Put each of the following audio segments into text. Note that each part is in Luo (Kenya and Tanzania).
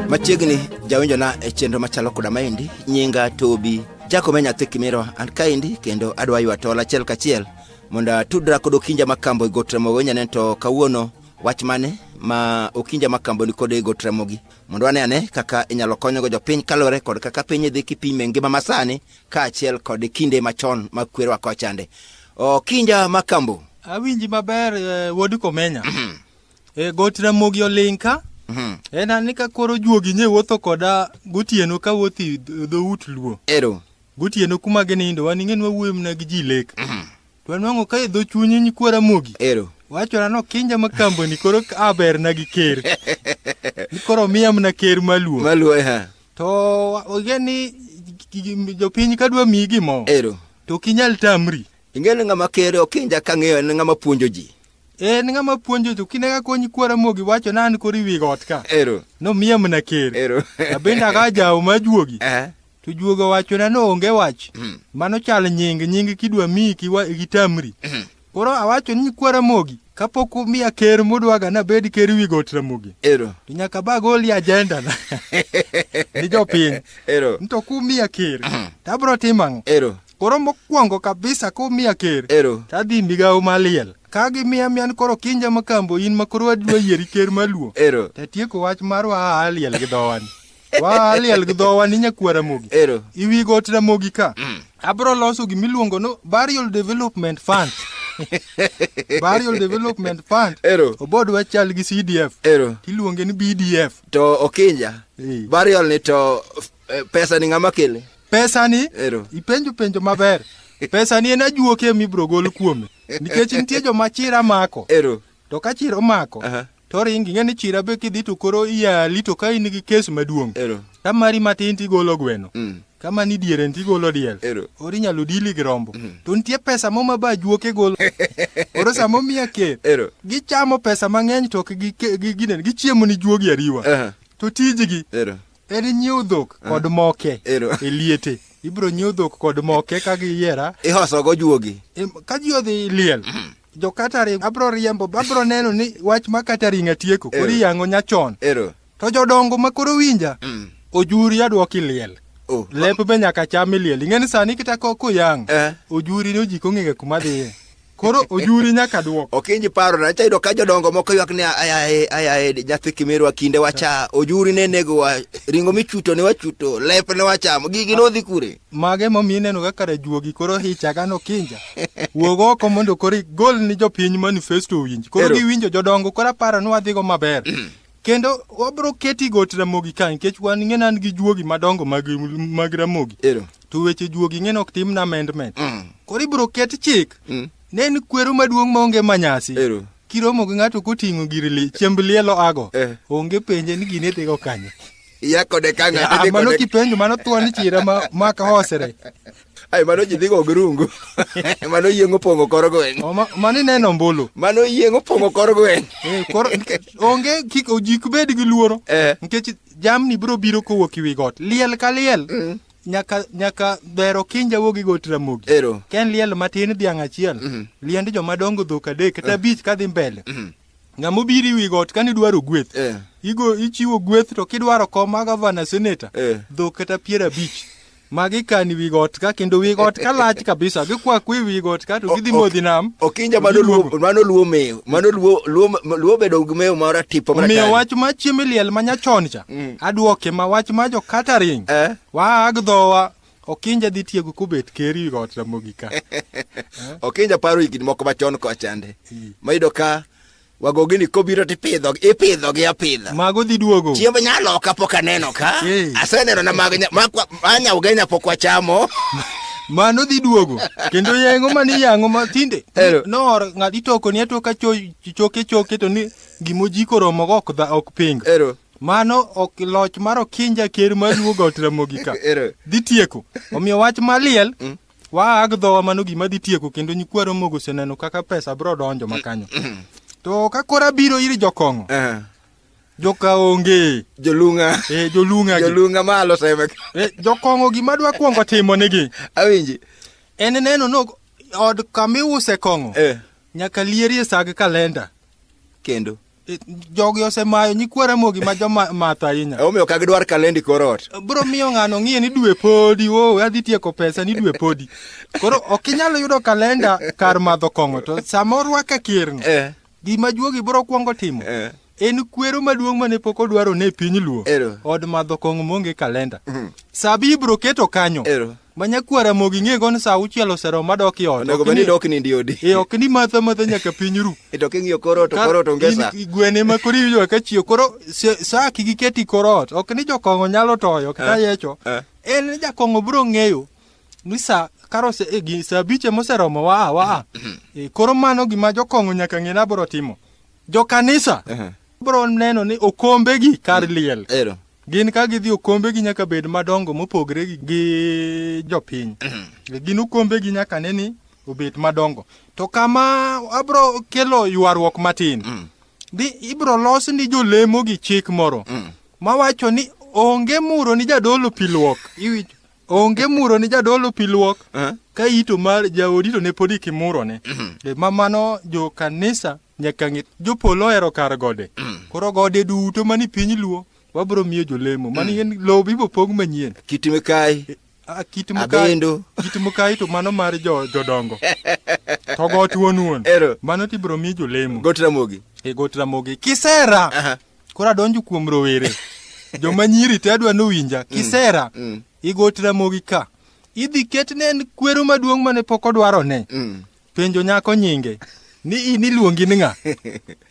machiegni jawinjona e chenro machalo koda maendi nyinga tobi jakome nyathi kimiro an kaendi kendo adwa ywa tol achiel kachiel mondo atudra kod okinja makambo e got ramogi onyane to kawuono wach mane ma okinja makambo ni kod e got ramogi mondo wane ane kaka inyalo konyogo jopiny kaluwore kod kaka piny idhi kipime ngima masani kaachiel kod kinde machon ma kwerwa kochande okinja makambo awinji maber eh, wuod komenya mhm. e eh, got ramogi oling ka mhm. en ani ka koro juogi nye wuotho koda gotieno ka wuothi dhout luo ero gotieno kuma ginindo wan ing'e nwawuoyo mna gi ji lek mhm. to anwang'o ka e dho chunyi nyikwara mogi ero wachona no kinja ma kamboni koro aberna gi ker ni koro miya mna ker maluo maluo ha To ogen ni jopiny ka dwa miyi gimoro. Ero. To ok inyal tamri. Ingen ng'ama kere ok inja ka ng'eyo en ng'ama puonjo ji. En ng'ama puonjo to kine ka konyi kwara mogi wacho na an kori wi got ka. Ero. No miya mna ker. Ero. Abende aga jawo ma juogi. Eh. To juogo wacho na no onge wach. Mm. Mano chal nying nying kidwa miyi kiwa gitamri. Mm. Koro awacho ni kwa Ramogi kapok umiya ker mudwaga nabed ker wi got Ramogi. Ero. To nyaka ba goli ajenda na. Ni jopiny. Ero. Nto kumiya ker. Mm. Tabro timo ang'o? Ero. Koro mokwongo kabisa kumiya ker. Ero. Tadhi migawo maliel. Ka gimiya miyan koro kinja makambo in ma koro adwa yieri ker maluo. Ero. Tatieko wach mar wa aliel gi dhowani. Wa liel gi dhowa ni nyakwara mogi. Ero. Iwi got ramogi ka. Mm. Abro loso gima iluongo no Burial Development Fund. Burial Development Fund. Ero. Obod wachal gi CDF. Ero. Tiluonge ni BDF. To Okinja. Hey. Burial ni to eh, pesa ni ng'ama kele? Pesa ni? Ero. Ipenjo penjo maber. Pesa ni en ajuoke mibro gol kuome. Nikech nitie joma chira mako. Ero. To ka chira omako. Uh -huh. to ring ing'e ni chira be kidhi to koro iyali to ka in gi kes maduong' Ero. ka mari matin tigolo gweno Mm. kama ni diere nti golo diel Ero. ori nyalo dili gi rombo to nitie pesa mo ma ba juoke golo oro sama omiya ker Ero. gichamo pesa mang'eny to ok gi- ke- gi- ginen gichiemo ni juogi ariwa Aha. to tijgi Ero. en nyiew dhok kod moke Ero. e liete ibiro nyiew dhok kod moke ka giyiera Ihosogo juogi. Em, ka ji odhi liel jo catering abro riembo abro neno ni wach ma catering atieko koro Ero. iyango nyachon Ero. to jodongo ma koro winja Mm. ojuri adwoki liel Oh. lep be nyaka cham iliel ing'e ni sani kita ko kuyang Eh. ojuri ni ojiko ng'enge kuma dhiye koro ojuri nyaka dwok Okinji paro na chayudo ka jodongo moko ywak ni ayaye ayaye nyathi kimerwa kinde wacha ojuri ne nego wa ringo michuto ne wachuto lep ne wachamo gigi nodhi kure. Mago emomiyo ineno ga kare juogi koro hicha ga nokinja. Wuog oko mondo koro igol ni jopiny manifesto owinj. Koro Ero. giwinjo jodongo koro aparo ni wadhigo maber. Kendo wabro keti got Ramogi ka nikech wan ing'ena an gi juogi madongo mag, mag Ramogi. Ero. To weche juogi ing'ena ok timna amendment. Mm. Koro ibro ket chik. Mm. Ne en kwero maduong' maonge manyasi. Ero. Kiromo gi ng'ato koting'o gir li, chiemb lielo ago. Eh. Onge penje ni gini idhigo kanye. Iya kode ka ng'ato Ah, dhi mano kode. kipenjo mano thuon chira ma ma ka hosere Ai mano ji dhigo grungu. mano yiengo pongo kor gweng'. O, ma- mano ineno ombulu Mano yiengo pongo kor gweng'. Eh, koro nikech onge kik ojik bed gi luoro Eh. nikech jamni biro biro kowuok ewi got liel ka liel nyaka nyaka dhero kinja wuog gi got ramogi Ero. ka en liel matin dhiang' achiel liend jomadongo dhok adek kata abich kadhi mbele ng'ama obiro iwi got kane idwaro gweth eh. igo ichiwo gweth to kidwaro kom ma gavana seneta eh. dhok kata piero abich ma gikani wi got ka kendo wi got ka lach kabisa gikwaku e wi got ka to gidhi modhi nam okinja mano luo mano luo meyo mano luo luo luo bedo gi meyo mara tipo mara miyo wach ma chiemi liel ma nyachon cha mm. adwoke ma wach ma jo catering eh? wa agdhowa Okinja dhi tiego kobet ker wi got Ramogi ka. Okinja paro higni moko machon kochande. Mayudo ka wagogini kobiro to ipidho ipidho gi apidha mago dhi duogo chiemb nyalo ka pok aneno ka aseneno na mag manya ugenya pok wachamo mano dhi duogo kendo yengo mani yango ma tinde noor ng'at itoko ni atoka choke choke to ni gimo jiko romo go ok dha ok pingo Mano ok loch mar okinja ker ma luwo got Ramogi ka. Ero. Dhi tieko. Omiyo wach maliel waa ag dhowa mano gima dhi tieko kendo nyikwa Ramogi oseneno kaka pesa biro donjo makanyo. To ka kora biro ir jokong'o, Eh, joka onge, Jolunga. eh, jolunga gi. Jolunga malo seme. Eh, jokong'o gima dwa kwongo timo nigi Awinji. en neno no od kamiuse kong'o Eh, nyaka lierie sag kalenda kendo. jogi osemayo nyikwa ramogi ma jomath ahinya omiyo ka gidwar kalendi korot bro miyo ng'ano ng'iye ni dwe podi o adhi tieko pesa ni dwe podi koro ok inyal yudo kalenda kar madho kong'o to sama orwake kirni eh. gima juogi bro kwongo timo eh. en kwero maduong' mane pok odwaro ne piny luo od madho kong'o monge kalenda mhm. sabi ibro keto kanyo Ero. Manyakwar Ramogi ing'ego ni sa auchiel oseromo madok i ot. Onego bed ni dok nindi odi. E ok ni matha matha nyaka piny ru. E to king'iyo kor ot to kor ot onge sa. Gwene ma koro iwinjo ka chiew koro sa kigi keti kor ot. Ok ni jokong'o nyalo toyo kata eh, yecho. Eh. En jakong'o bro ng'eyo ni sa karo se e gi sa biche moseromo waa waa. E koro mano gima jokong'o nyaka ng'e na bro timo. Jo kanisa. Eh. Bro neno ni okombe gi kar liel. Ero. Gin ka gidhi okombegi nyaka bed madongo mopogre gi- gi jopiny. Gin okombegi nyaka ne ni obet madongo. To kama abro kelo ywaruok matin. Di ibro los ni jolemo gi chik moro mawacho ni onge muro ni jadolo pi luok. Iwinjo? Onge muro ni jadolo pi luok. Eh. Ka ito mar jaodi to ne pod ikimurone. Eh, Ma mano jo kanisa nyaka ng'e jopolo ohero kar gode mm. koro gode duto mani piny luo wabro miyo jolemo mm. mani en lowo bibo pong manyien kit mikai e, kit mikai kit mikai to mano mar jodongo to got wuon wuon mano to ibro miyo jolemo got ramogi e got ramogi kisera koro adonjo kuom rowere joma nyiri te adwa nowinja mm. kisera igot ramogi ka idhi ketne en kwero maduong' mane pok odwarone Penjo nyako nyinge ni in iluongi ni ng'a?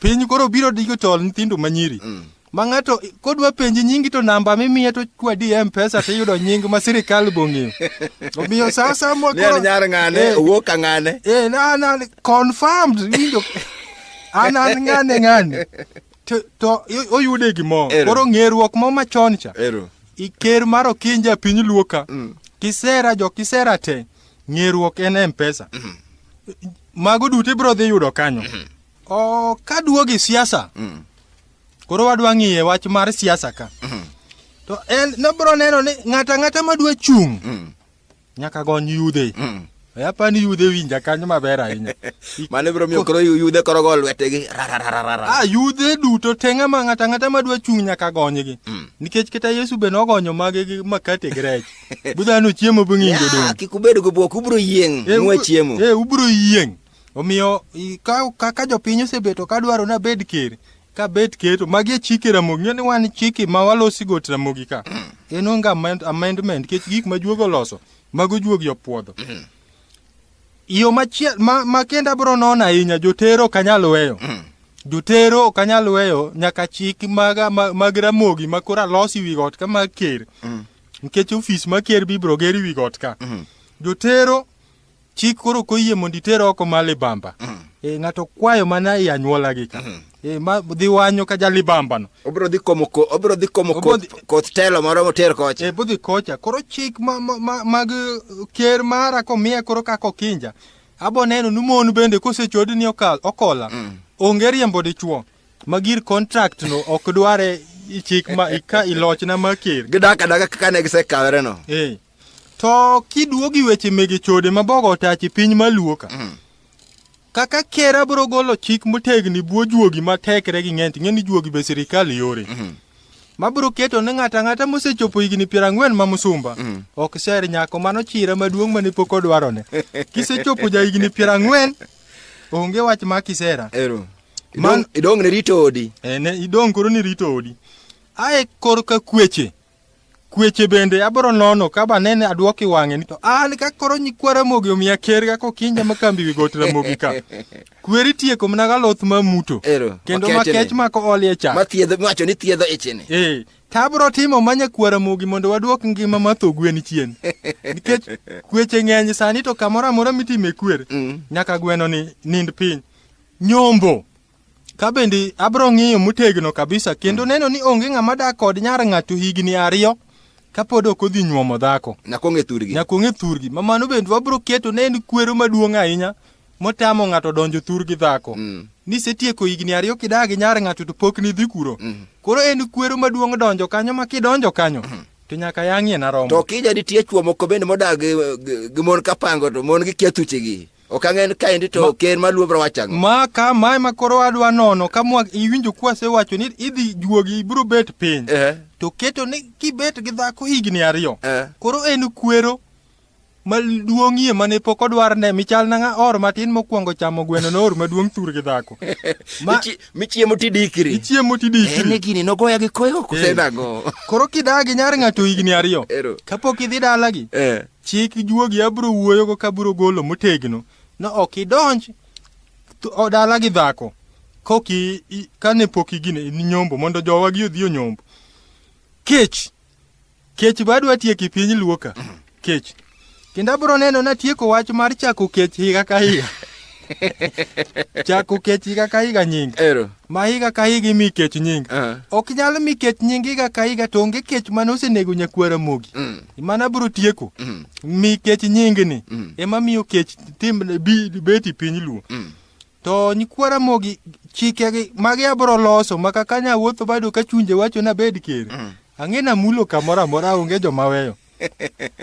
Piny koro biro digo chol nyithindo manyiri. Mm. Ma ng'ato kodwa penji nyingi to namba mimiye to kwadi e mpesa to iyudo nying ma sirikal bong'eyo. Omiyo sa asaya mwa koro. Ni nyar ng'ane, eh, owuok ka ng'ane. Eh, na na confirmed winjo. An an ng'ane ng'ane. To, to oyude gimoro. Koro ng'eruok mo machon cha. Ero. Iker mar okinja piny luoka. Mm. Kisera jo kisera te. ng'eruok en mpesa mm -hmm. mago duto ibiro dhi yudo kanyo mm -hmm. o kaduogi siasa mm -hmm. koro wadwa ng'iye wach mar siasa ka mm -hmm. to en nobiro neno ni ng'ato ang'ata madwa chung' mm -hmm. nyaka gony yudhe mm -hmm. Yapa ni yudhe winja kanyo maber ahinya. Mane bro miyo koro yudhe koro go lwetegi. Ah yudhe duto tenga ma ng'ata ng'ata madwa chung' nyaka gonygi. Mm. Nikech kata Yesu be nogonyo mage gi makate gi rech. budhano chiemo bing'injo dong kik ubed go bwok ubro yieng eh, nwa chiemo eh ubro yieng omiyo kaka jopiny osebeto ka dwaro na bed ker ka bet keto magi e chike ramogi ng'e ni wan chike ma walosi got ramogi ka mm. en onge amendment kech gik ma juogo loso mago juogi opuodho mm. yo machiel ma, ma kenda bro nono ahinya jotero ok anyal weyo mm. jotero ok anyal weyo nyaka chik mag, mag ramogi ma koro alosi wi got kama ker mm. nikech ofis ma ker bibro ger wi got ka mm. jotero chik koro koyie mondo iter oko ma libamba mm. e, ng'ato kwayo mana e anyuola gi ka mm. e, ma dhi wanyo ka ja libamba no obro dhi komo ko obro dhi komo ko koth telo moro moter kocha e bo dhi kocha koro chik ma ma mag ker mara ko miya koro ka ko kinja abo neno ni mon bende kosechod ni okal okola mm. onge riembo dichuo ma gir contract no ok dware chik ma ka ilochna ma ker gidaka daga kaka ne gisekawere no eh to kiduogi weche mege chode ma bogo otachi piny maluo ka mm. kaka ker abro golo chik motegni buo juogi ma tekre gi ng'ent ng'eni juogi be sirikal yore mm -hmm. mabro keto ne ng'ata ng'ata mosechopo higni piero ang'wen ma musumba mm. ok ser nyako mano chira maduong' mane pok odwarone kisechopo ja higni piero ang'wen onge wach ma kisera Ero. Man idong ne rito odi. Eh ne idong koro ni rito odi. Ae kor ka kweche. Kweche bende abro nono ka ba nene adwoki wang'e ni to an ka koro nyikwara mogi omiya ker ga ko kinja ma kambi wi got ramogi ka. Kweri tieko mna ga loth ma muto. Ero, Kendo ma makete ni. kech ma ko olie cha. Ma thiedho wacho ni thiedho ichini. Eh, to abro timo manya kwara mogi mondo wadwok ngima ma tho gwen chien. Nikech kweche ng'eny sani to kamoro amora mitime kwer. Mm. Nyaka gweno ni nind piny. Nyombo. Ka bende abro ng'iyo motegno kabisa kendo neno ni onge ng'ama dak kod nyar ng'ato higni ariyo kapod ok odhi nyuomo dhako. Nyaka ong'e thurgi. Nyaka ong'e thurgi. Ma mano bende wabro keto ne en kwero maduong' ahinya motamo ng'ato donjo thurgi dhako. Mm. Ni setieko higni ariyo kidagi nyar ng'ato to pok nidhi kuro. Mm. Koro en kwero maduong' donjo kanyo ma kidonjo kanyo. Mm. To nyaka yang'ie na romo. To kija nitie chwo moko bende modag gi mon kapango to mon gi kethuchegi. Ok ang'e ni kaendi to Ma- ker ma luobra wacho ang'o. ma ka mae ma koro adwa nono ka mwa iwinjo kwasewacho ni idhi juogi ibiro bet piny Eh, to keto ni kibet gi dhako higni ariyo eh. koro en kwero maduong'ie mane pok odwar ne michal na ng'a or matin mokwongo chamo gweno noor maduong' thur gi dhako Ma- Michi- Michiemo tidikri. ichiemo En tidikri ni gini nogoya gi koyo Eh. kusenang'o. koro kidagi nyar ng'ato higni ariyo Ero. kapok idhi dalagi Eh. Chik juogi abiro wuoyogo ka abiro golo motegno ni ok idonj dala gi dhako koki kane pok igine ni nyombo mondo jowa gi odhi onyombo. Kech kech badwa tieki piny luoka kech kendo abiro neno natieko wach mar chako kech higa ka higa. Chako kech higa ka higa nying. Ero. Ma higa ka higa imi kech nying. Uh -huh. Ok nyal mi kech nying higa ka higa to onge kech mane osenego nyakwara mogi. Mm. Mana bro tieko. Mm. Mi kech nying ni. Mm. Ema miyo kech tim bi beti piny luo. Mm. To nyikwara mogi chike gi magi abro loso maka kanya wuotho bado ka chunje wacho na bed ker. Mm. Ang'e na mulo kamora mora onge joma weyo.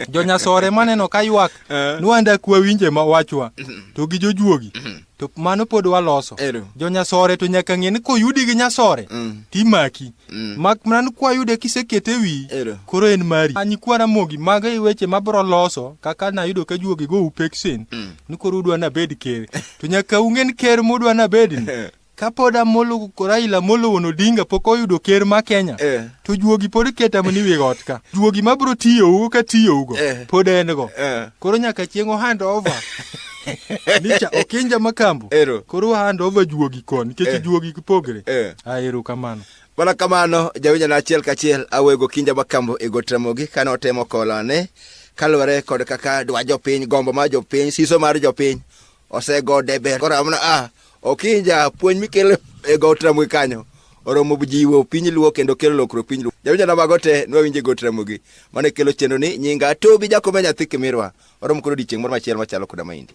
jonyasore maneno ka ywak eh. nwanda kwa winje ma wachwa mm-hmm. to gi jojuogi mm-hmm. to mano pod waloso jonyasore to nyaka ng'e ni koyudi gi nyasore mm. timaki mm. mak mana ni kwayude kisekete e wi koro en mari anyi kwana mogi mago i e weche mabro loso kaka nayudo ka juogi go upeksen mm. ni koro udwa nabed ker to nyaka ung'e ni ker mudwa nabedni Kapod Amolo Raila Amolo Wuon Odinga pok oyudo ker ma Kenya eh. to juogi pod keta mani wi got ka juogi ma bro tiyo ugo ka tiyo ugo eh. pod en go eh. koro nyaka chieng' ohand over Nicha okinja makambo. Ero. Koro hand over juogi kon nikech eh. juogi kipogre. Eh. Ah, ero kamano. Mana kamano jawinja na achiel kachiel awego kinja makambo e got ramogi kane otemo kolone kaluwore kod kaka dwa jopiny gombo mar jopiny siso mar jopiny osego deber koro amna a ah, okinja puonj mikele e got ramogi kanyo oromo jiwo piny luo kendo kelo lokruok piny luo jawinjo na mago te nwawinje got ramogi mane kelo chenro ni nyinga tobi jakome nyathi kimirwa oromo koro odiechieng' moro machielo machalo koda maindi